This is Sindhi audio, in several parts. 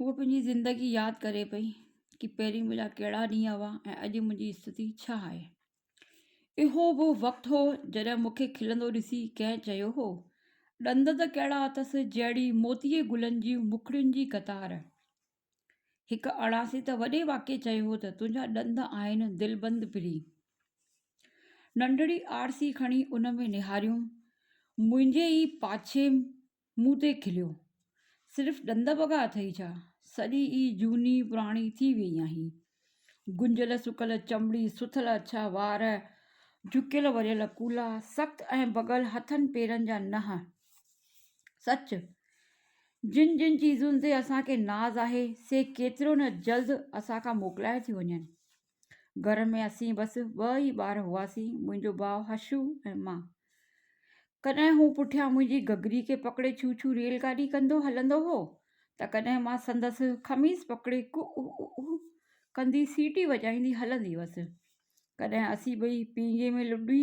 هوء پنهنجي زندگي ياد ڪري پئي ته پهرين منهنجا ڪهڙا ڏينهن هئا ۽ اڄ منهنجي استٿي ڇا آهي. اهو به وقت هو جڏهن مون کي کلندو ڏسي ڪنهن چيو هو، ڏند ته ڪهڙا اٿس جهڙي موتيء گلن جون مکڙين جي قطار. هڪ اڻاسي ته وڏي واڪي چيو هو ته تنهنجا ڏند آهن دلبند پري. ننڍڙي آڙسي کڻي ان ۾ نهاريم، منهنجي ئي پاڇي مون تي کليو. صرف ڏند وڳا اٿئي ڇا؟ سڄي ئي جهوني پراڻي ٿي ويئي آهين. گنجيل سڪل چمڙي، سٿل اڇا وار، جهڪيل وريل ڪلها، سخت ۽ ڀڳل هٿن پيرن جا ننهن. سچ، جن جن چيزن تي اسان کي ناز آهي، سي ڪيترو نه جلد اسان کان موڪلائي ٿيون وڃن. گهر ۾ اسين بس ٻه ئي ٻار هئاسين منهنجو ڀاء حشو ۽ مان ڪڏهن هو پٺيان منهنجي گگري کي پڪڙي ڇو ڇو ريل گاڏي ڪندو هلندو هو ته ڪڏهن مان سندس خميس پڪڙي ڪو ڪو ڪو ڪندي سيٽي وڄائيندي هلندي هئس ڪڏهن اسين ٻئي پينگهي ۾ لڏي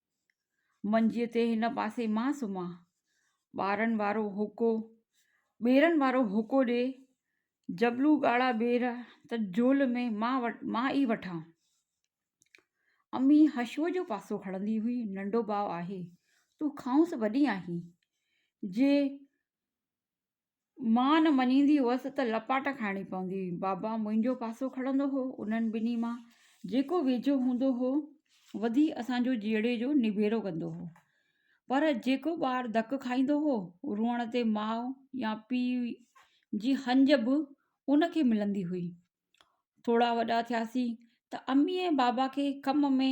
منجيء تي هن پاسي مان سمهان. ٻارن وارو هوڪو، ٻيرن وارو هوڪو ڏي، جبلو ڳاڙها ٻير ته جهول ۾ مان مان ئي وٺان. امي حشوء جو پاسو کڻندي هئي، ننڍو ڀاء آهي، تون کانئس وڏي آهين، جي مان نه مڃيندي هئس ته لپاٽ کائڻي پوندي هئي. بابا منهنجو پاسو کڻندو هو. انهن ٻنهي مان جيڪو ويجهو هوندو هو، وڌي اسان جو جيئڙي جو نبيرو ڪندو هو. پر جيڪو ٻار ڌڪ کائيندو هو، روئڻ تي ماء يا پيء جي هنج به ان کي ملندي هئي. ٿورا وڏا ٿياسين ته امي ۽ بابا کي ڪم ۾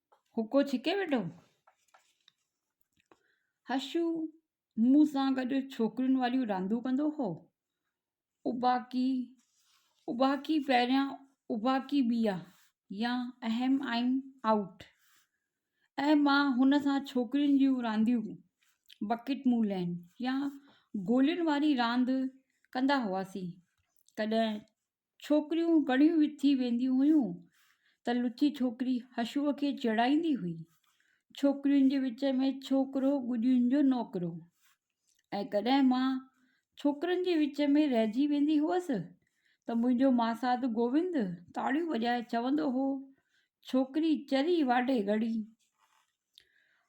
حقو ڇڪي ويٺو؟ حشو مون سان گڏ ڇوڪرين واريون راندون ڪندو هو. اوباڪي، اوباڪي پهريان اوباڪي بيا يا اهم آئين آئوٽ ۽ مان هن سان ڇوڪرين جون رانديون بڪيٽ مون لين يا گولين واري راند ڪندا هئاسين. ڪڏهن ڇوڪريون ڪڙيون وٿي وينديون هيون ته لچي ڇوڪري حشوء کي چيڙائيندي هئي. ڇوڪرين جي وچ ۾ ڇوڪرو ڳجهين جو نوڪرو. ۽ ڪڏهن مان ڇوڪرن جي وچ ۾ رهجي ويندي هئس ته منهنجو ماساد گووند تاڙيون وڄائي چوندو هو، ڇوڪري چري واڍي گهڙي.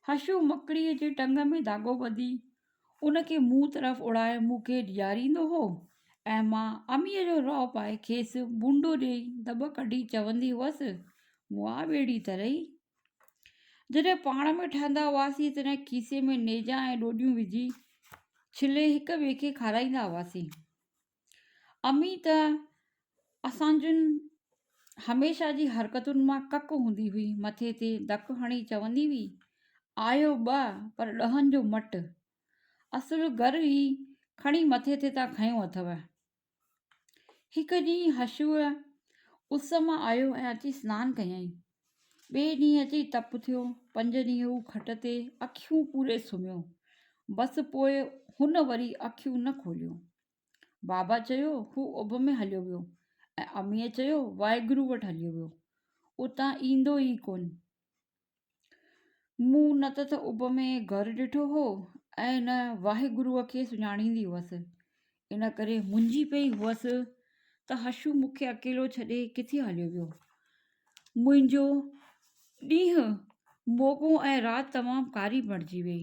حشو مڪڙيء جي ٽنگ ۾ ڌاڳو ٻڌي، ان کي مون طرف اڙائي مون کي ڊياريندو هو ۽ مان اميء جو رئو پائي کيس ڀونڊو ڏيئي دٻ ڪڍي چوندي هئس، مئا ٻيڙي تري. جڏهن پاڻ ۾ ٺهندا هئاسين تڏهن کيسي ۾ نيزا ۽ ڏوڏيون وجهي ڇلي هڪ ٻئي کي کارائيندا هئاسين. امي ته اسان جون هميشه جي حرڪتن مان ڪڪ هوندي هئي مٿي تي ڌڪ هڻي چوندي هئي آيو ٻه پر ڏهن جو مٽ اصل گهر ئي کڻي مٿي تي تان کنيو اٿو هڪ ڏينهن حشوء اس مان آيو ۽ اچي سنان ڪيائين ٻي ڏينهن اچي تپ ٿيو پنج ڏينهن هو کٽ تي اکيون پوري سمهيو بس پوء هن وري اکيون نه کوليون بابا چيو هو اڀ ۾ هليو ويو ۽ اميء چيو واحگرو وٽ هليو ويو اتان ايندو ئي ڪون مون نه ته ته اڀ ۾ گهر ڏٺو هو ۽ نه واحگرو کي سڃاڻيندي هئس ان ڪري منجهي پئي هئس ته حشو مون کي اڪيلو ڇڏي ڪٿي هليو ويو منهنجو ڏينهن موڳو ۽ رات تمام ڪاري بڻجي وئي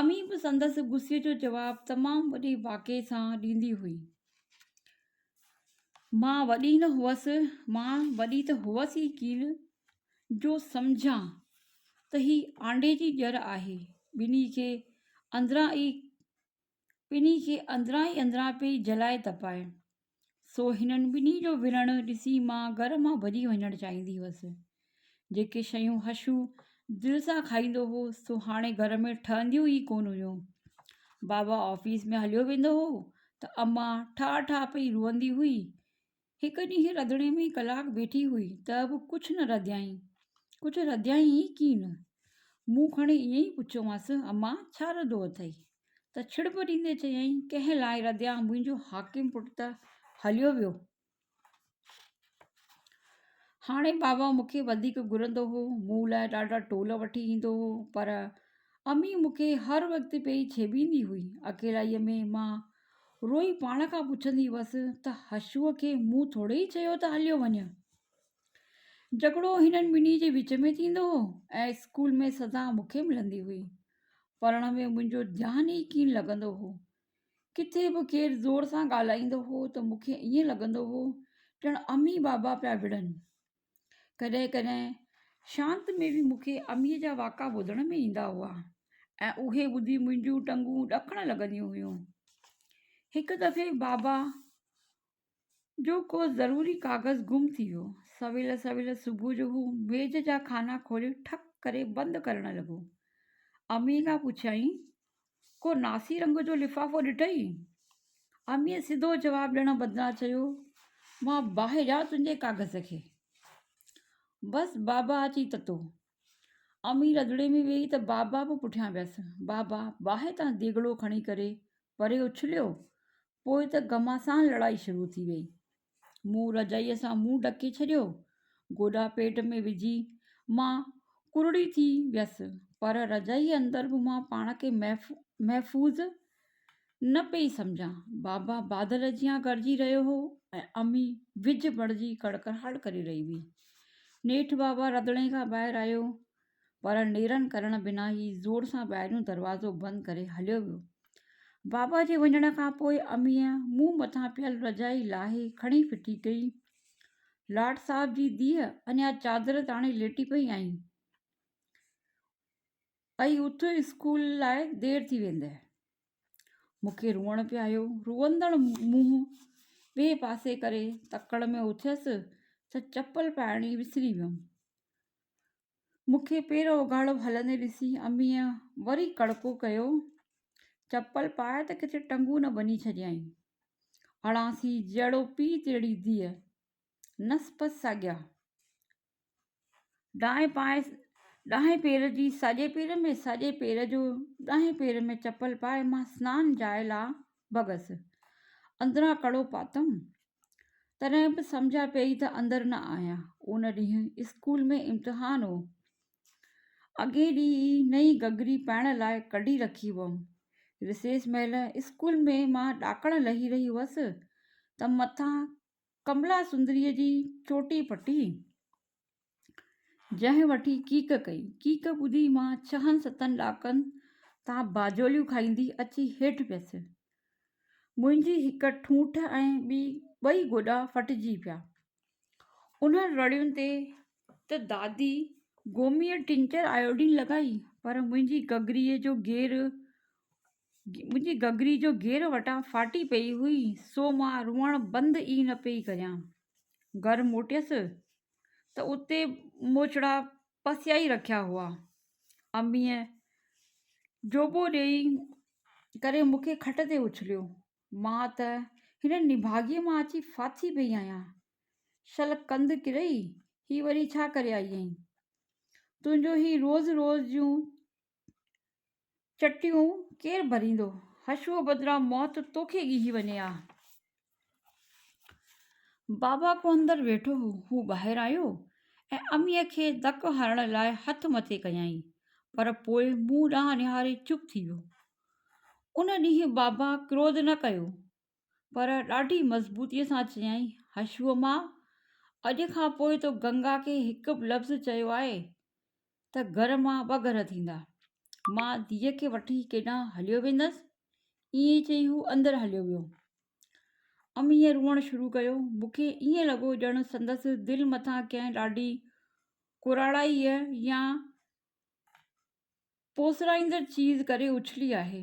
امي به سندس غصي جو جواب تمام وڏي واڪي سان ڏيندي هئي. مان وڏي نه هئس، مان وڏي ته هئس ئي ڪين جو سمجهان ته هي آنڊي جي ڄر آهي، ٻني کي اندران ئي ٻنهي کي اندران ئي اندران پئي جلائي تپائي، سو هنن ٻنهي جو وڙهڻ ڏسي مان گهر مان ڀڄي وڃڻ چاهيندي هئس. جيڪي شيون حشو دل سان کائيندو هو، سو هاڻي گهر ۾ ٺهنديون ئي ڪونه هيون. بابا آفيس ۾ هليو ويندو هو ته امان ٺاهه ٺاهه پئي روئندي هئي، هڪ ڏينهن رڌڻي ۾ ڪلاڪ بيٺي هئي ته به ڪجهه نه رڌيائين. ڪجهه رڌيائين ئي ڪين. مون کڻي ائين ئي پڇيومانس، اما ڇا رڌو اٿئي؟ ته ڇڙٻ ڏيندي چيائين، ڪنهن لاء رڌيان، منهنجو حاڪم پٽ ته هليو ويو. هاڻي بابا مون کي وڌيڪ گهرندو هو، مون لاء ڏاڍا ٽول وٺي ايندو هو، پر امي مون کي هر وقت پئي ڇيٻيندي هئي. اڪيلائيء ۾ مان روئي پاڻ کان پڇندي هئس ته حشوء کي مون ٿوري ئي چيو ته هليو وڃ. جهڳڙو هنن ٻنهي جي وچ ۾ ٿيندو هو ۽ اسڪول ۾ سزا مون کي ملندي هئي. پڙهڻ ۾ منهنجو ڌيان ئي ڪين لڳندو هو. ڪٿي به ڪير زور سان ڳالهائيندو هو ته مون کي ائين لڳندو هو ڄڻ امي بابا پيا وڙهن. ڪڏهن ڪڏهن شانت ۾ به مون کي اميء جا واڪا ٻڌڻ ۾ ايندا هئا ۽ اهي ٻڌي منهنجون ٽنگون ڏڪڻ لڳنديون هيون هڪ دفعي بابا جو ڪو ضروري ڪاغذ گم ٿي ويو سويل سويل صبح جو هو ميز جا خانا کولي ٺڪ ڪري بند ڪرڻ لڳو اميء کان پڇيائين ڪو ناسي رنگ جو لفافو ڏٺئي؟ اميء سڌو جواب ڏيڻ بدران چيو، مان باهه ڏيان تنهنجي ڪاغذ کي. بس بابا اچي تتو. امي رڌڻي ۾ ويئي ته بابا به پٺيان ويس. بابا باهه تان ديڳڙو کڻي ڪري پري اڇليو. پوء ته گهماسان لڙائي شروع ٿي ويئي. مون رضائيء سان منهن ڍڪي ڇڏيو. گوڏا پيٽ ۾ وجهي مان ڪرڙي ٿي ويس، پر رضائيء اندر به مان پاڻ کي محفوظ نه پئي سمجهان. بابا بادل جيان گرجي رهيو هو ۽ امي وجهه بڻجي ڪڙڪڙاهٽ ڪري رهي هئي. نيٺ بابا رڌڻي کان ٻاهر آيو پر نيرن ڪرڻ بنا هي زور سان ٻاهريون دروازو بند ڪري هليو ويو. بابا جي وڃڻ کان پوء اميء منهن مٿان پيل رضائي لاهي کڻي ڦٽي ڪئي. لاٽ صاحب جي ڌيء اڃا چادر تاڻي ليٽي پئي آهين. اي اٿ اسڪول لاء دير ٿي ويندء. مونکي روئڻ پي آيو روئندڙ منهن ٻئي پاسي ڪري تڪڙ ۾ اٿيس ته چپل پائڻ ئي وسري ويم مونکي پير اوگاڙو هلندي ڏسي امي وري ڪڙڪو ڪيو چپل پاء ته ڪٿي ٽنگون نه ڀڃي ڇڏيائين اڙانسي جهڙو پيء تهڙي ڌيء نس پس ساڳيا ڏانهن پائي ڏانهن پير جي ساڄي پير ۾ ساڄي پير جو ڏانهن پير ۾ چپل پائي مان سنان جاء لا ڀڳس اندران ڪڙو پاتم تڏهن به سمجهه پئي ته اندر نه آهيان ان ڏينهن اسڪول ۾ امتحان هو اڳي ڏي ئي نئي گگري پائڻ لاء ڪڍي رکي هئم رسيس مهل اسڪول ۾ مان ڏاڪڻ لهي رهي هئس ته مٿان ڪملا سندريء جي چوٽي پٽي، جنهن وٺي ڪيڪ ڪئي. ڪيڪ ٻڌي مان ڇهن ستن ڏاڪن تان باجوليون کائيندي اچي هيٺ پيس. منهنجي هڪ ٺونٺ ۽ ٻي ٻئي گوڏا ڦٽجي پيا. انهن رڙين تي ته دادي گوميء ٽنچر آيوڊين لڳائي، پر منهنجي گگريء جو گير منهنجي گگري جو گير وٽان ڦاٽي پئي هئي سو مان روئڻ بند ئي نه پئي ڪريان گهر موٽيس ته اتي موچڙا پسيائي رکيا هئا اميء جوڀو ڏئي ڪري مونکي کٽ تي اڇليو مان ته هن نڀاڳي مان اچي ڦاٿي پئي آهيان شل ڪنڌ ڪرئي هي وري ڇا ڪري آئي آهين تنهنجو هي روز روز جون چٽيون ڪير ڀريندو؟ حشوء بدران موت توکي ڳهي وڃي ها. بابا ڪو اندر ويٺو هو. هو ٻاهر آيو ۽ اميء کي ڌڪ هڻڻ لاء هٿ مٿي ڪيائين، پر پوء مون ڏانهن نهاري چپ ٿي ويو. ان ڏينهن بابا ڪروڌ نه ڪيو، پر ڏاڍي مضبوطيء سان چيائين، حشوء ماء! اڄ کان پوء تو گنگا کي هڪ به لفظ چيو آهي ته گهر مان ٻه گهر ٿيندا. مان ڌيء کي وٺي ڪيڏانهن هليو ويندس. ائين چئي هو اندر هليو ويو. اميء روئڻ شروع ڪيو. مون کي ائين لڳو ڄڻ سندس دل مٿان ڪنهن ڏاڍي ڪراڙائيء يا پوسرائيندڙ چيز ڪري اڇلي آهي.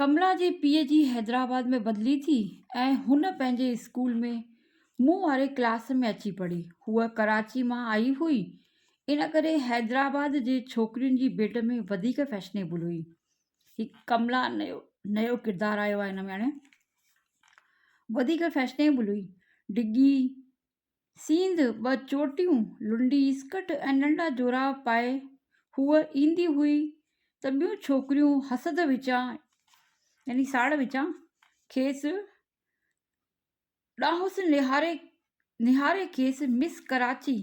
ڪملا جي پيء جي حيدرآباد ۾ بدلي ٿي ۽ هن پنهنجي اسڪول ۾ مون واري ڪلاس ۾ اچي پڙهي. هوء ڪراچي مان آئي هئي، ان ڪري حيدرآباد جي ڇوڪرين جي ڀيٽ ۾ وڌيڪ فيشنيبل هئي. هي ڪملا نيو نيو ڪردار آيو آهي هن ۾ هاڻي. وڌيڪ فيشنيبل هئي، ڊگهي سينڌ ٻه چوٽيون، لنڊي اسڪرٽ ۽ ننڍا جوراب پائي هوء ايندي هئي ته ٻيون ڇوڪريون حسد وچان يعني ساڙ وچان کيس ڏانهس نهاري نهاري کيس مس ڪراچي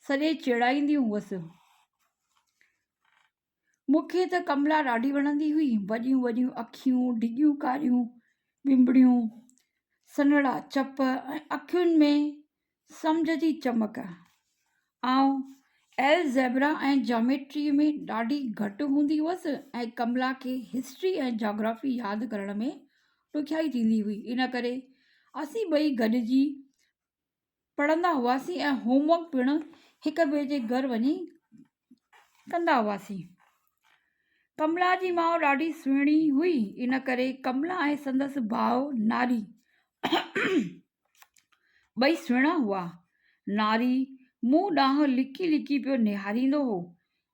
سڏي چيڙائينديون هئس. مون کي ته ڪملا ڏاڍي وڻندي هئي وڏيون وڏيون اکيون ڊگهيون ڪاريون ٻنبڙيون سنهڙا چپ ۽ اکين ۾ سمجهه جي چمڪ آئون ايل زيبرا ۽ جاميٽري ۾ ڏاڍي گهٽ هوندي هئس ۽ ڪملا کي هسٽري ۽ جاگرافي ياد ڪرڻ ۾ ڏکيائي ٿيندي هئي ان ڪري اسين ٻئي گڏجي پڙهندا هئاسين ۽ هوم ورڪ پڻ هڪ ٻئي جي گهر وڃي ڪندا هئاسين. ڪملا جي ماء ڏاڍي سهڻي هئي ان ڪري ڪملا ۽ سندس ڀاء ناري ٻئي سهڻا هئا. ناري مون ڏانهن لڪي لڪي پيو نهاريندو هو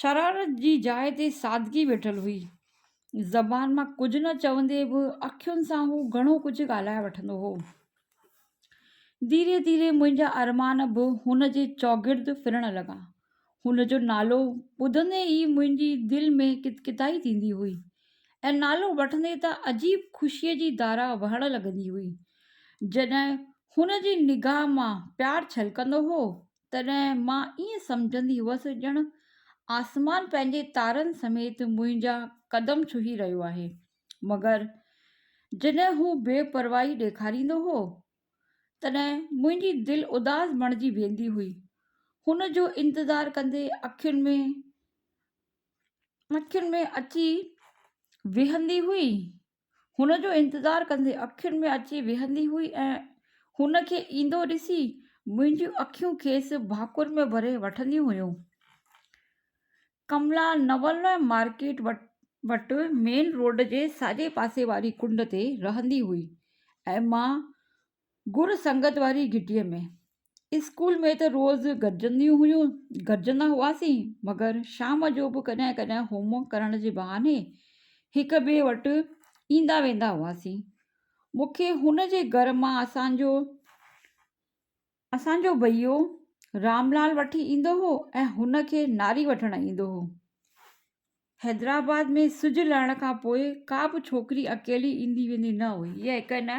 شرارت جي جاء تي سادگي ويٺل هئي. زبان مان ڪجهه نه چوندي به اکين سان هو گهڻو ڪجهه ڳالهائي وٺندو هو. ڌيري ڌيري منهنجا ارمان به هن جي چوگرد ڦرڻ لڳا. هن جو نالو ٻڌندي ئي منهنجي دل ۾ ڪتڪتائي ٿيندي هئي ۽ نالو وٺندي ته عجيب خوشيء جي ڌارا وهڻ لڳندي هئي. جڏهن هن جي نگاهه مان پيار ڇلڪندو هو تڏهن مان ائين سمجهندي هئس ڄڻ آسمان پنهنجي تارن سميت منهنجا قدم ڇهي رهيو آهي مگر جڏهن هو بي پرواهي ڏيکاريندو هو تڏهن منهنجي دل اداس بڻجي ويندي هئي هن جو انتظار ڪندي اکين ۾ اکين ۾ اچي ويهندي هئي هن جو انتظار ڪندي اکين ۾ اچي ويهندي هئي ۽ هن کي ايندو ڏسي منهنجيون اکيون کيس ڀاڪر ۾ ڀري وٺنديون هيون. ڪملا نول مارڪيٽ وٽ مين روڊ جي ساڄي پاسي واري ڪنڊ تي رهندي هئي ۽ مان گر سنگت واري گهٽيء ۾، اسڪول ۾ ته روز گڏجنديون هيون، گڏجندا هئاسين، مگر شام جو به ڪڏهن ڪڏهن هوم ورڪ ڪرڻ جي بهاني هڪ ٻئي وٽ ايندا ويندا هئاسين. مون کي هن جي گهر مان اسان جو اسان جو ڀئيو رام لال وٺي ايندو هو ۽ هن کي ناري وٺڻ ايندو هو. حيدرآباد ۾ سج لهڻ کان پوء ڪا به ڇوڪري اڪيلي ايندي ويندي نه هئي هيء هڪ هن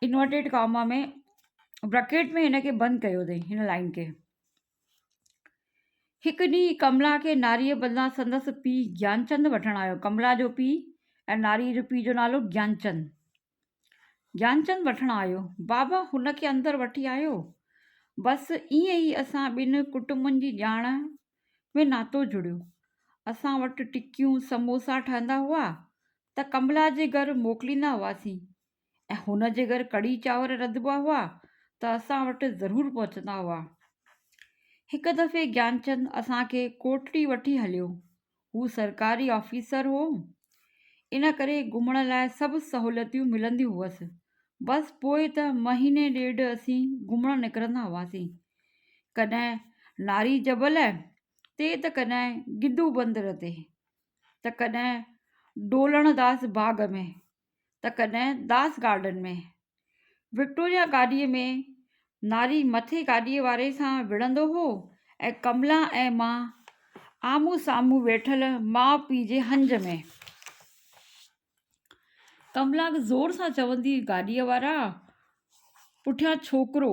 انورٽيڊ ڪاما ۾ برڪيٽ ۾ هن کي بند ڪيو اٿئي هن لائين کي هڪ ڏينهن ڪملا کي ناريء بدران سندس پيء گيانچند وٺڻ آيو ڪملا جو پيء ۽ ناريء جو پيء جو نالو گيانچند ڄانچن وٺڻ آيو. بابا هن کي اندر وٺي آيو. بس ائين ئي اسان ٻن ڪٽنبن جي ڄاڻ ۾ ناتو جڙيو. اسان وٽ ٽڪيون سموسا ٺهندا هئا ته ڪملا جي گهر موڪليندا هئاسين ۽ هن جي گهر ڪڙهي چانور رڌبا هئا ته اسان وٽ ضرور پهچندا هئا. هڪ دفعي گيانچند اسان کي ڪوٽڙي وٺي هليو. هو سرڪاري آفيسر هو، ان ڪري گهمڻ لاء سڀ سهولتيون ملنديون هئس. بس پوء ته مهيني ڏيڍ اسين گهمڻ نڪرندا هئاسين. ڪڏهن ناري جبل تي ته ڪڏهن گدو بندر تي ته ڪڏهن ڊولڻ داس باغ ۾. ته ڪڏهن داس گارڊن ۾. وڪٽوريا گاڏيء ۾ ناري مٿي گاڏيء واري سان وڙهندو هو ۽ ڪملا ۽ مان آمهون سامهون ويٺل ماء پيء جي هنج ۾. ڪملا زور سان چوندي هئي، گاڏيء وارا، پٺيان ڇوڪرو.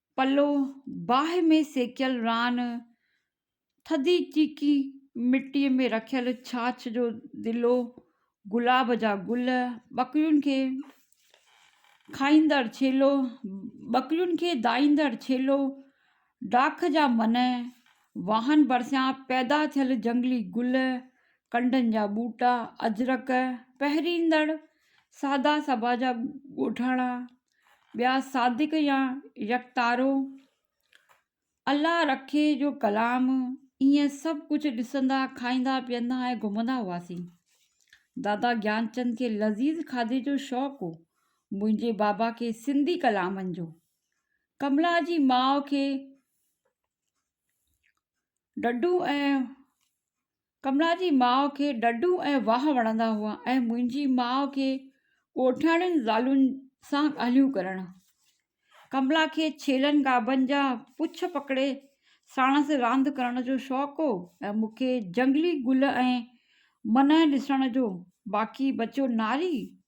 پلو باهه ۾ سيڪيل ران، ٿڌي چيڪي مٽيء ۾ رکيل ڇاڇ جو دلو، گلاب جا گل، ٻڪرين کي کائيندڙ ڇيلو، ٻڪرين کي دائيندڙ ڇيلو، ڊاک جا منع، واهن ڀرسان پيدا ٿيل جهنگلي گل، ڪنڊن جا ٻوٽا، اجرڪ پهريندڙ سادا سٻاجها ڳوٺاڻا، ٻيا صادق يا يڪتارو الله رکي جو ڪلام ائين سڀ ڪجهه ڏسندا کائيندا پيئندا ۽ گهمندا هئاسين دادا گيانچند کي لذيذ کاڌي جو شوق هو منهنجي بابا کي سنڌي ڪلامن جو ڪملا جي ماء کي ڏڍون ۽ ڪملا جي ماء کي ڏڍون ۽ واهه وڻندا هئا ۽ منهنجي ماء کي ڳوٺاڻين زالين سان ڳالهيون ڪرڻ. ڪملا کي ڇيلن گابن جا پڇ پڪڙي ساڻس راند ڪرڻ جو شوق هو ۽ مون کي جهنگلي گل ۽ منهه ڏسڻ جو. باقي بچو ناري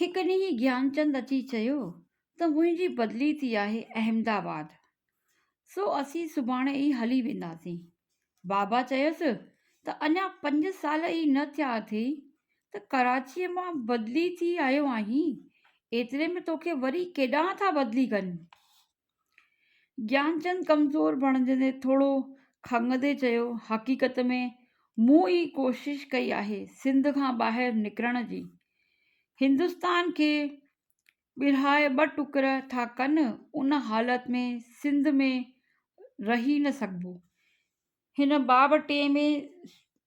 هڪ ڏينهن گيانچند اچي چيو ته منهنجي بدلي ٿي آهي احمد آباد سو اسين سڀاڻي ئي هلي وينداسين. بابا چيس ته اڃا پنج سال ئي نه ٿيا اٿئي ته ڪراچيء مان بدلي ٿي آيو آهين، ايتري ۾ توکي وري ڪيڏانهن ٿا بدلي ڪن؟ گيانچند ڪمزور بڻجندي ٿورو کنگهندي چيو، حقيقت ۾ مون هي ڪوشش ڪئي آهي سنڌ کان ٻاهر نڪرڻ جي. هندستان کي ٻرهائي ٻه ٽڪر ٿا ڪن ان حالت ۾ سنڌ ۾ رهي نه سگهبو. هن باب ٽي ۾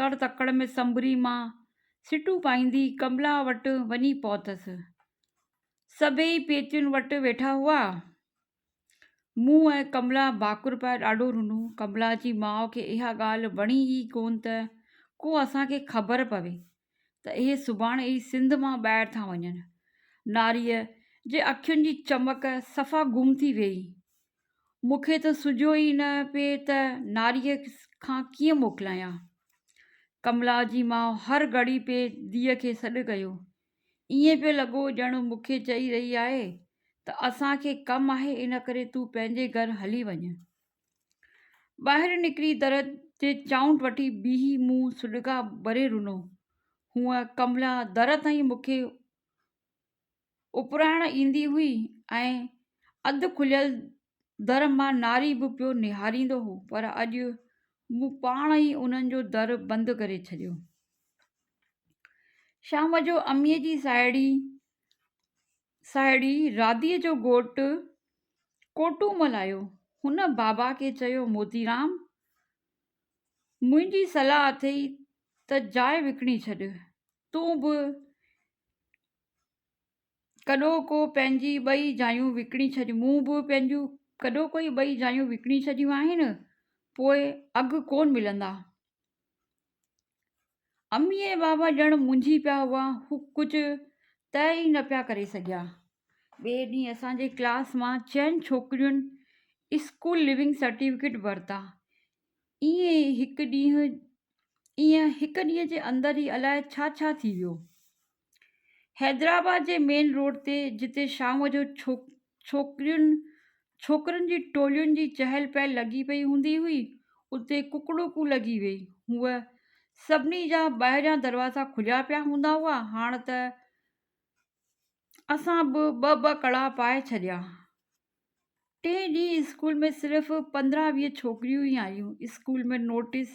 تڙ تڪڙ ۾ سنبري مان سٽون پائيندي ڪملا وٽ وڃي پهتس. سڀيئي پيچين وٽ ويٺا هئا. مون ۽ ڪملا ڀاڪر پائي ڏاڍو رنو. ڪملا جي ماء کي اها ڳالهه وڻي ئي ڪونه ته ڪو اسان کي خبر پوي. ته اهي سڀاڻي ئي سنڌ مان ٻاهر ٿا وڃن. ناريء جي اکين جي چمڪ صفا گم ٿي ويئي. مون کي ته سجهيو ئي نه پئي ته ناريء کان ڪيئن موڪلايان. ڪملا جي ماء هر گهڙي پئي ڌيء کي سڏ ڪيو. ائين پيو لڳو ڄڻ مون کي چئي رهي آهي ته اسان کي ڪم آهي ان ڪري تون پنهنجي گهر هلي وڃ. ٻاهر نڪري در جي چاؤنڊ وٺي بيهي مون سڏڪا ڀري رنو هونء ڪملا در تائين مون کي اپرائڻ ايندي هئي ۽ اڌ کليل در مان ناري به پيو نهاريندو هو پر اڄ مون پاڻ ئي انهن جو در بند ڪري ڇڏيو شام جو امي جي ساهيڙي ساهيڙي راديء جو گهوٽ ڪوٽومل آيو. هن بابا کي چيو، موتيرام! منهنجي صلاح اٿئي ته جاء وڪڻي ڇڏ. تون به ڪڏهوڪو پنهنجي ٻئي جايون وڪڻي ڇڏ. مون به پنهنجون ڪڏهوڪو ئي ٻئي جايون وڪڻي ڇڏيون آهن. پوء اگهه ڪونه ملندا. امي ۽ بابا ڄڻ مونجهي پيا هئا هو ڪجهه طئي ئي نه پيا ڪري سگهيا ٻئي ڏينهن اسانجي ڪلاس مان چئن ڇوڪرين اسڪول ليوينگ سرٽيفڪيٽ ورتا ائين ئي هڪ ڏينهن ائين هڪ ڏينهن جي اندر ئي الائي ڇا ڇا ٿي ويو حيدرآباد جي مين روڊ تي جتي شام جو ڇوڪرين ڇوڪرن جي ٽولين جي چهل پهل لڳي پئي هوندي هئي اتي ڪڪڙوڪو لڳي وئي هوء سڀني جا ٻاهريان دروازا کليا پيا هوندا هئا هاڻ ته اسان به ٻه ٻه ڪڙا پائي ڇڏيا ٽئين ڏينهن اسڪول ۾ صرف پندرهن ويهه ڇوڪريون ئي آيون اسڪول ۾ نوٽيس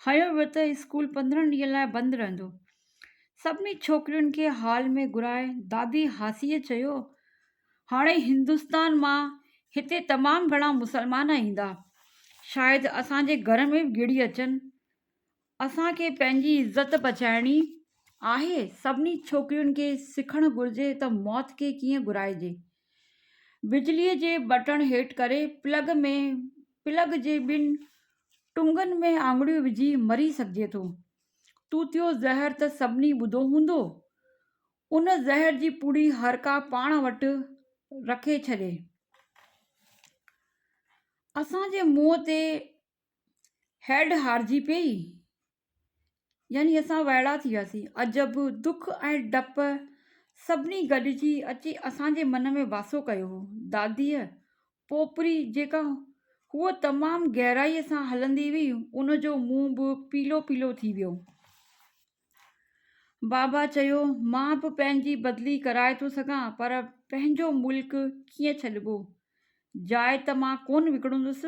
هنيو ويو ته اسڪول پندرهن ڏينهن لاء بند رهندو سڀني ڇوڪرين کي هال ۾ گهرائي دادي هاسيء چيو هاڻي هندستان مان هتي تمام گهڻا مسلمان ايندا شايد اسان جي گهر ۾ به گهڙي اچن اسان کي پنهنجي عزت بچائڻي آهي سڀني ڇوڪرين کي سکڻ گهرجي ته موت کي ڪيئن گهرائجي بجلي جي بٽڻ هيٺ ڪري پلگ ۾ پلگ جي ٻن ٽنگن ۾ آڱريون وجهي مري سگهجي ٿو توتيو زهر ته سڀني ٻڌو هوندو ان زهر جي پڙي هرڪا پاڻ وٽ رکي ڇڏي اسان جي منهن تي هيڊ هارجي پئي يعني اسان وائڙا ٿي وياسين عجب دک ۽ ڊپ سڀني گڏجي اچي اسانجي من ۾ واسو ڪيو هو داديء پوپري جيڪا هو تمام گهرائي سان هلندي هئي ان جو منهن به پيلو پيلو ٿي ويو بابا چيو مان به پنهنجي بدلي ڪرائي ٿو سگهان پر پنهنجو ملڪ ڪيئن ڇڏبو جاء ته مان ڪون وڪڻندس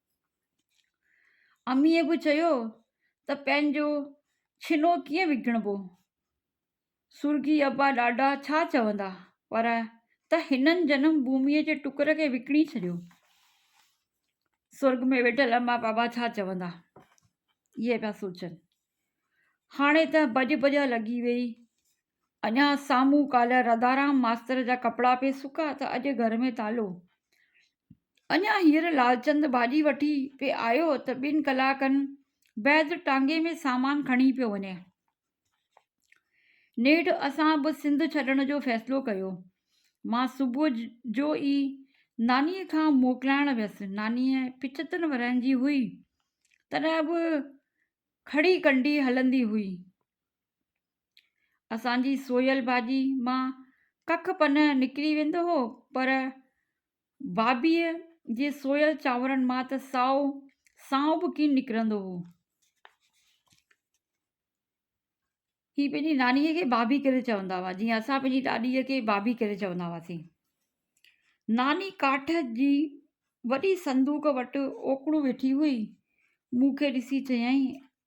اميء به چيو ته پنهنجو ڇنو ڪيئن وڪڻبو سرڳي ابا ڏاڏا ڇا چوندا پر ته هنن جنم ڀومي جي ٽڪر کي وڪڻي ڇڏيو سرڳ ۾ ويٺل اما بابا ڇا چوندا اهي پيا سوچن هاڻي ته ڀڄ ڀڄ لڳي وئي اڃا سامهون ڪالهه رڌارام ماستر جا ڪپڙا پئي سڪا ته اڄ گهر ۾ تالو اڃا هينئر لالچند ڀاڄي وٺي پئي آيو ته ٻن ڪلاڪن بعد ٽانگي ۾ سامان کڻي پيو وڃي نيٺ اسان به سنڌ ڇڏڻ جو فيصلو ڪيو مان صبح جو ئي نانيء کان موڪلائڻ ويس نانيء پچتن ورهن جي هئي تڏهن به کڙي ڪنڊي هلندي هئي اسان جي سويل ڀاڄي مان ڪک پن نڪري ويندو هو پر بابي جي سويل چانورن مان ته سائو سائو به ڪين نڪرندو هو هي پنهنجي ناني کي بابي ڪري چوندا هئا جيئن اسان پنهنجي ڏاڏي کي بابي ڪري چوندا هئاسين ناني ڪاٺ جي وڏي صندوق وٽ اوڪڙو ويٺي هئي مون کي ڏسي چيائين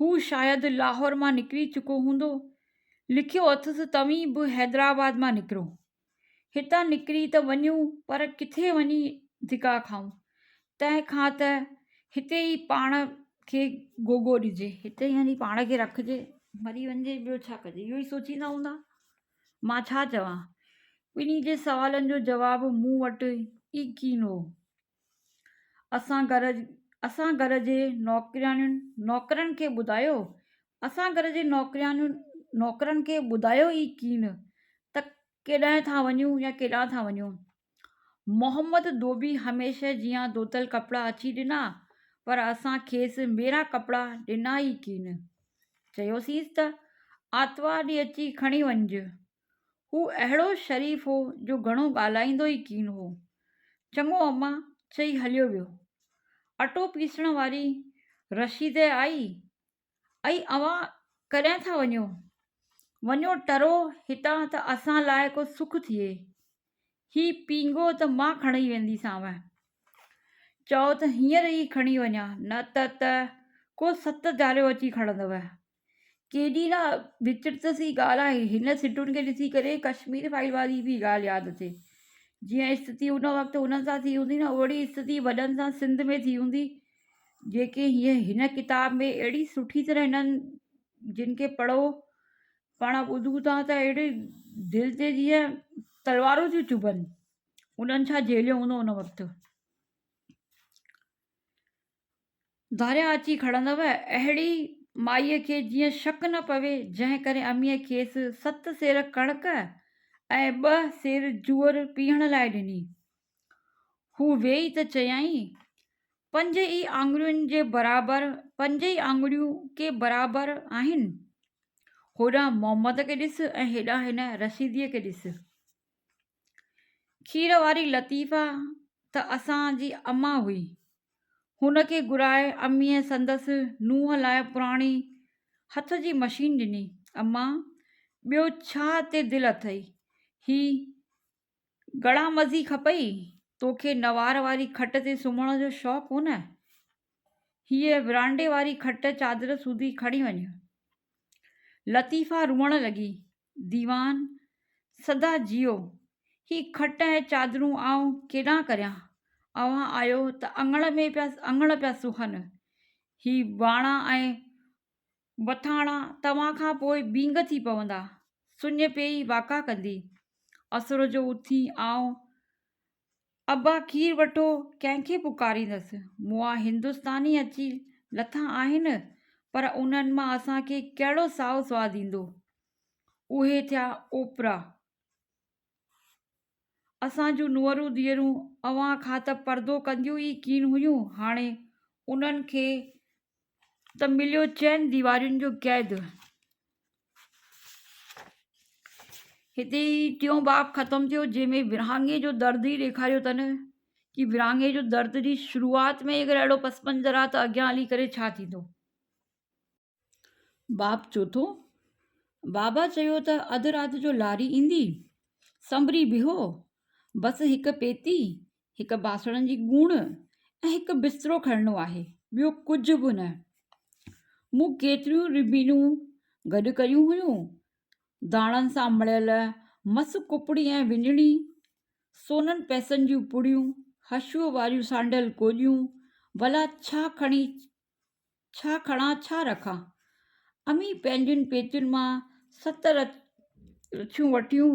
هو شايد لاهور مان نڪري چڪو هوندو. لکيو اٿس توهين به حيدرآباد مان نڪرو. هتان نڪري ته وڃون پر ڪٿي وڃي ڌڪا کائون. تنهن کان ته هتي ئي پاڻ کي گوگو ڏجي. هتي ئي وڃي پاڻ کي رکجي مري وڃجي ٻيو ڇا ڪجي اهو ئي سوچيندا هوندا. مان ڇا چوان. ٻنهي جي سوالن جو جواب مون وٽ ئي ڪين هو. اسان گهر اسان گهر جي نوڪرياڻين نوڪرن کي ٻڌايو اسان گهر جي نوڪرياڻين نوڪرن کي ٻڌايو ئي ڪين ته ڪيڏانهن ٿا وڃون يا ڪيڏانهن ٿا وڃون محمد ڌوٻي هميشه جيان ڌوتل ڪپڙا اچي ڏنا پر اسان کيس ميرا ڪپڙا ڏنا ئي ڪين چيوسيس ته آرتوار ڏينهن اچي کڻي وڃج هو اهڙو شريف هو جو گهڻو ڳالهائيندو ئي ڪين هو. چڱو اما، چئي هليو ويو. اٽو پيسڻ واري رشيده آئي، ائي اوهان ڪڏهن ٿا وڃو؟ وڃو ٽرو هتان ته اسان لاء ڪو سک ٿئي. هي پينگهو ته مان کڻي وينديسانء. چئو ته هينئر ئي کڻي وڃان نه ته ته ڪو ست ڌاريو اچي کڻندو. ڪيڏي نه وچرت سي ڳالهه آهي، هن سٽون کي ڏسي ڪري ڪشمير فائيل واري به ڳالهه ياد اچي، جيئن استثي ان وقت انهن سان ٿي هوندي نه اهڙي استثي وڏن سان سنڌ ۾ ٿي هوندي، جيڪي هيء هن ڪتاب ۾ اهڙي سٺي طرح هنن جن کي پڙهو پاڻ ٻڌون ٿا ته اهڙي دل تي جيئن تلوارون ٿيون چڀن، انهن ڇا جهليو هوندو ان وقت. ڌاريا اچي کڙندؤ، اهڙي مائيء کي جيئن شڪ نه پوي، جنهن ڪري اميء کيس ست سير ڪڻڪ ۽ ٻه سير جوئر پيهڻ لاء ڏني. هو ويئي ته چيائين، پنج ئي آڱرين جي برابر، پنج ئي آڱريون ڪي برابر آهن؟ هوڏانهن محمد کي ڏس ۽ هيڏانهن هن رشيديء کي ڏس. کير واري لطيفه ته اسان جي اما هئي هن کي گهرائي امي سندس نونهن لاء پراڻي هٿ جي مشين ڏني اما ٻيو ڇا هتي دل اٿئي هي گهڻا مزي کپئي توکي نوار واري کٽ تي سمهڻ جو شوق ڪونه هيء ورانڊي واري کٽ چادر سوڌي کڻي وڃ لطيفه روئڻ لڳي ديوان، سدا جيئو، هي کٽ ۽ چادرون آئون ڪيڏانهن ڪريان، اوهان آهيو ته اڱڻ ۾ پيا اڱڻ پيا سونهن، هي ٻاڻا ۽ بٿاڻا توهان کان پوء بينگ ٿي پوندا، سڃ پيئي واڪا ڪندي، اسر جو اٿي آئون ابا کير وٺو ڪنهن کي پڪاريندس، موئا هندستاني اچي لٿا آهن، پر انهن مان اسان کي ڪهڙو سائو سواد ايندو؟ اهي ٿيا اوپرا. اسان جون نوئرون ڌيئرون اوهان کان ته پردو ڪنديون ئي ڪين هيون، هاڻي انهن کي ته مليو چئن ديوارين جو قيد. هتي ئي ٽيون باب ختم ٿيو جنهن ۾ ورهاڱي جو درد ئي ڏيکاريو اٿن ڪي ورهاڱي جو درد جي شروعات ۾ ئي اگر اهڙو پس منظر آ ته اڳيان هلي ڪري ڇا ٿيندو. باب چوٿون بابا چيو ته اڌ رات جو لاري ايندي سنبري بيهو بس هڪ پيتي هڪ باسڻن جي ڳوڻ ۽ هڪ بسترو کڻڻو آهي، ٻيو ڪجهه به نه. مون ڪيتريون ربينون گڏ ڪيون هيون، داڻن سان مڙهيل مس ڪپڙي ۽ وڃڻي، سونن پئسن جون پڙيون، حشوء واريون سانڍيل ڪوڄيون، ڀلا ڇا کڻي ڇا کڻان ڇا رکان؟ امي پنهنجين پيتين مان ست رڇيون وٺيون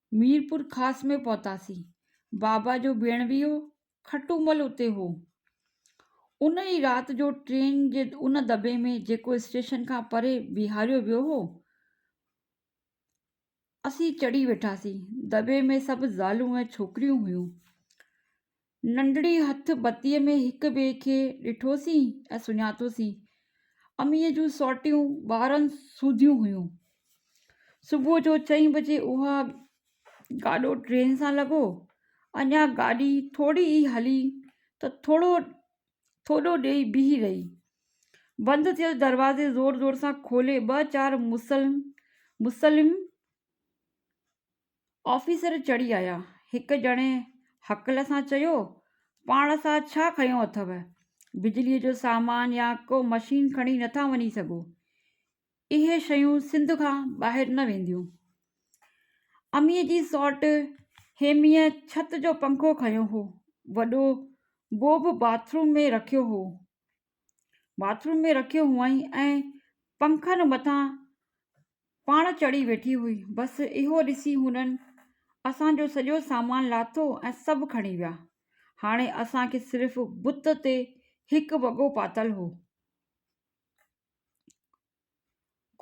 ميرپورخاص ۾ پهتاسين. بابا جو ڀيڻ به هو. کٽومل اتي هو. ان ئي رات جو ٽرين جي ان دٻي ۾ جيڪو اسٽيشن کان پري بيهاريو ويو هو، اسين چڙهي ويٺاسين. دٻي ۾ سڀ زالون ۽ ڇوڪريون هيون. ننڍڙي هٿ بتيء ۾ هڪ ٻئي کي ڏٺوسين ۽ سڃاتوسين. اميء جون سوٽيون ٻارهن سوڌيون هيون. صبح جو چئين بجي اها گاڏو ٽرين سان لڳو. اڃا گاڏي ٿوري ئي هلي ته ٿورو ٿوڏو ڏيئي بيهي رهي. بند ٿيل دروازي زور زور سان کولي ٻه چار مسلم آفيسر چڙهي آيا. هڪ ڄڻي هڪل سان چيو، پاڻ سان ڇا کنيو اٿو؟ بجليء جو سامان يا ڪو مشين کڻي نٿا وڃي سگهو؟ اهي شيون سنڌ کان ٻاهر نه وينديون. اميء جي سئوٽ هيميء ڇت جو پنکو کنيو هو. وڏو بوب باٿ روم ۾ رکيو هو. باٿروم ۾ رکيو هئائين ۽ پنکن مٿان پاڻ چڙهي ويٺي هئي بس اهو ڏسي هنن اسانجو سڄو سامان لاٿو ۽ سڀ کڻي ويا هاڻي اسانکي صرف بت تي هڪ وڳو پاتل هو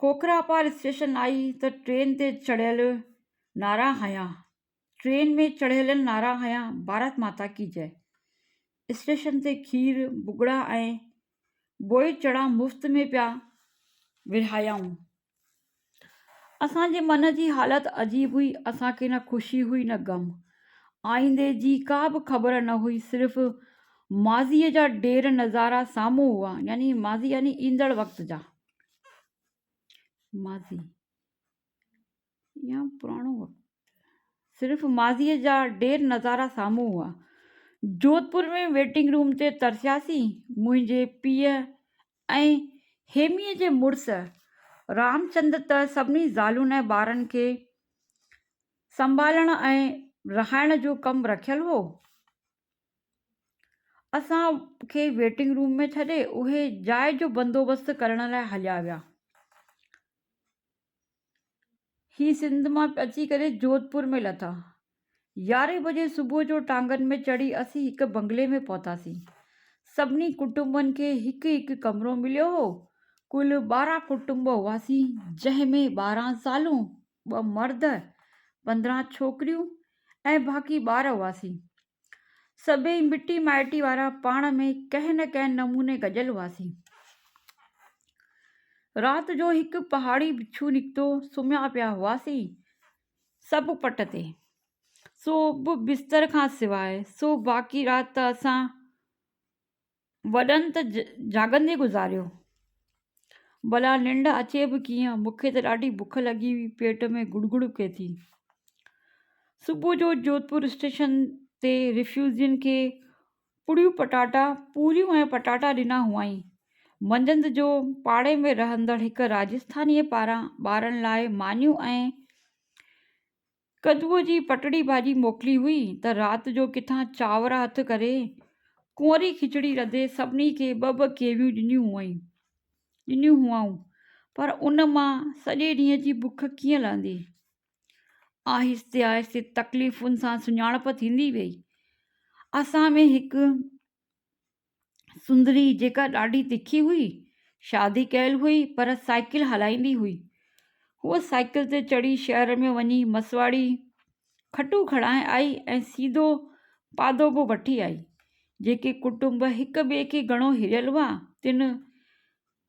کوکراپار اسٽيشن آئي ته ٽرين تي چڙهيل نعرا هنيا ٽرين ۾ چڙهيلن نعرا هنيا ڀارت ماتا ڪي جئه اسٽيشن تي کير ڀڳڙا ۽ ٻوئي چڻا مفت ۾ پيا ورهايائون اسانجي من جي حالت عجيب هئي اسانکي نه خوشي هئي نه غم آئيندي جي ڪا به خبر نه هئي صرف ماضي جا ڍير نظارا سامهون هئا يعني ماضي يعني ايندڙ وقت جا ماضي يا پراڻو وقت صرف ماضي جا ڍير نظارا سامهون هئا جوڌپور ۾ ويٽنگ روم تي ترسياسين منهنجي پيء ۽ هيميء جي مڙس رامچند ته سڀني زالن ۽ ٻارن کي سنڀالڻ ۽ رهائڻ جو ڪم رکيل هو اسان کي ويٽنگ روم ۾ ڇڏي اهي جاء جو بندوبست ڪرڻ لاء هليا ويا هي سنڌ مان اچي ڪري جوڌپور ۾ لٿا. يارهين بجي صبح جو ٽانگن ۾ چڙهي اسين هڪ بنگلي ۾ پهتاسين. سڀني ڪٽنبن کي هڪ هڪ ڪمرو مليو هو. ڪل ٻارهن ڪٽنب هئاسين جنهن ۾ ٻارهن زالون، ٻه مرد، پندرهن ڇوڪريون ۽ باقي ٻار هئاسين. سڀئي مٽي مائٽي وارا پاڻ ۾ ڪنهن نه ڪنهن نموني گڏيل هئاسين. رات جو هڪ پهاڙي بڇو نڪتو سمهيا پيا هئاسين سڀ پٽ تي. سو به بستر کان سواء. سو باقي رات اسان وڏن ته جاڳندي گذاريو ڀلا ننڊ اچي به ڪيئن مون کي ته ڏاڍي بک لڳي هئي پيٽ ۾ گڙ گڙ پئي ٿي صبح جو جوڌپور اسٽيشن تي رفيوجين کي پڙيون پٽاٽا پوريون ۽ پٽاٽا ڏنا هئائين منجهند جو پاڙي ۾ رهندڙ هڪ راجسٿانيء پاران ٻارن لاء مانيون ۽ ڪدوء جي پٽڙي ڀاڄي موڪلي هئي ته رات جو ڪٿان چانور هٿ ڪري ڪنوري کچڙي رڌي سڀني کي ٻه ٻه ڪيويون ڏنيون هئائين ڏنيون هئائون پر ان مان سڄي ڏينهن جي بک ڪيئن لهندي؟ آهستي آهستي تڪليفن سان سڃاڻپ ٿيندي ويئي. اسان ۾ هڪ. سندري جيڪا ڏاڍي تکي هئي شادي ڪيل هئي پر سائيڪل هلائيندي هئي هوء سائيڪل تي چڙهي شهر ۾ وڃي مسواڙي کٽو کڻائي آئي ۽ سيڌو پادو به وٺي آئي جيڪي ڪٽنب هڪ ٻئي کي گهڻو هريل هئا تن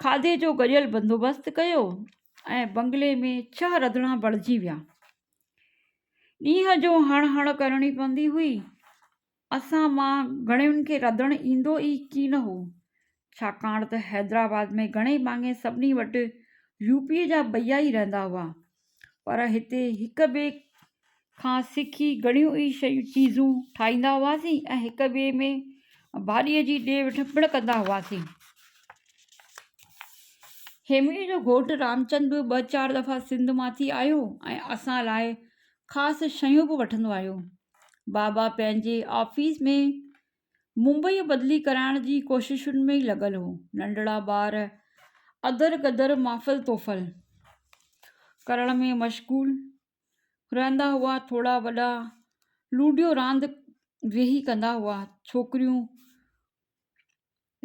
کاڌي جو گڏيل بندوبست ڪيو ۽ بنگلي ۾ ڇهه رڌڻا بڻجي ويا ڏينهن جو هڻ هڻ ڪرڻي پوندي هئي اسان مان گهڻين کي رڌڻ ايندو ئي ڪي نه هو، ڇاڪاڻ ته حيدرآباد ۾ گهڻي ڀاڱي سڀني وٽ يو پيء جا ڀيا ئي رهندا هئا، پر هتي هڪ ٻئي کان سکي گهڻيون ئي شيون چيزون ٺاهيندا هئاسين ۽ هڪ ٻئي ۾ ڀاڄيء جي ڏي وٺ پڻ ڪندا هئاسين. هيميء جو گهوٽ رامچند به ٻه چار دفعا سنڌ مان ٿي آيو ۽ اسان لاء خاص شيون به وٺندو آيو. بابا پنهنجي آفيس ۾ ممبئيء بدلي ڪرائڻ جي ڪوششن ۾ ئي لڳل هو. ننڍڙا ٻار ادر قدر محفل توفل ڪرڻ ۾ مشغول رهندا هئا. ٿورا وڏا لوڊيو راند ويهي ڪندا هئا. ڇوڪريون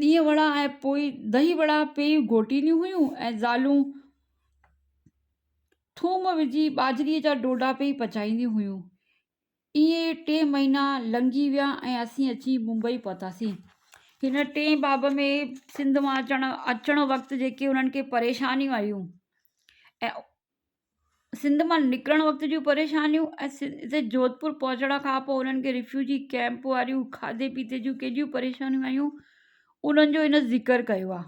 ڏيئي وڙا ۽ پوء دهي وڙا پئي گهوٽينديون هيون ۽ زالون ٿوم وجهي ٻاجهري جا ڍوڍا پئي پچائينديون هيون. ائين ٽي مهينا لنگهي ويا ۽ اسين اچي ممبئي پهتاسين. هن ٽئين باب ۾ سنڌ مان اچڻ اچڻ وقت جيڪي انهن کي پريشانيون آيون ۽ سنڌ مان نڪرڻ وقت جون پريشانيون ۽ سنڌ جوڌپور پهچڻ کان پوء انهن کي ريفيوجي ڪئمپ واريون کاڌي پيتي جون ڪيڏيون پريشانيون آيون انهن جو هن ذڪر ڪيو آهي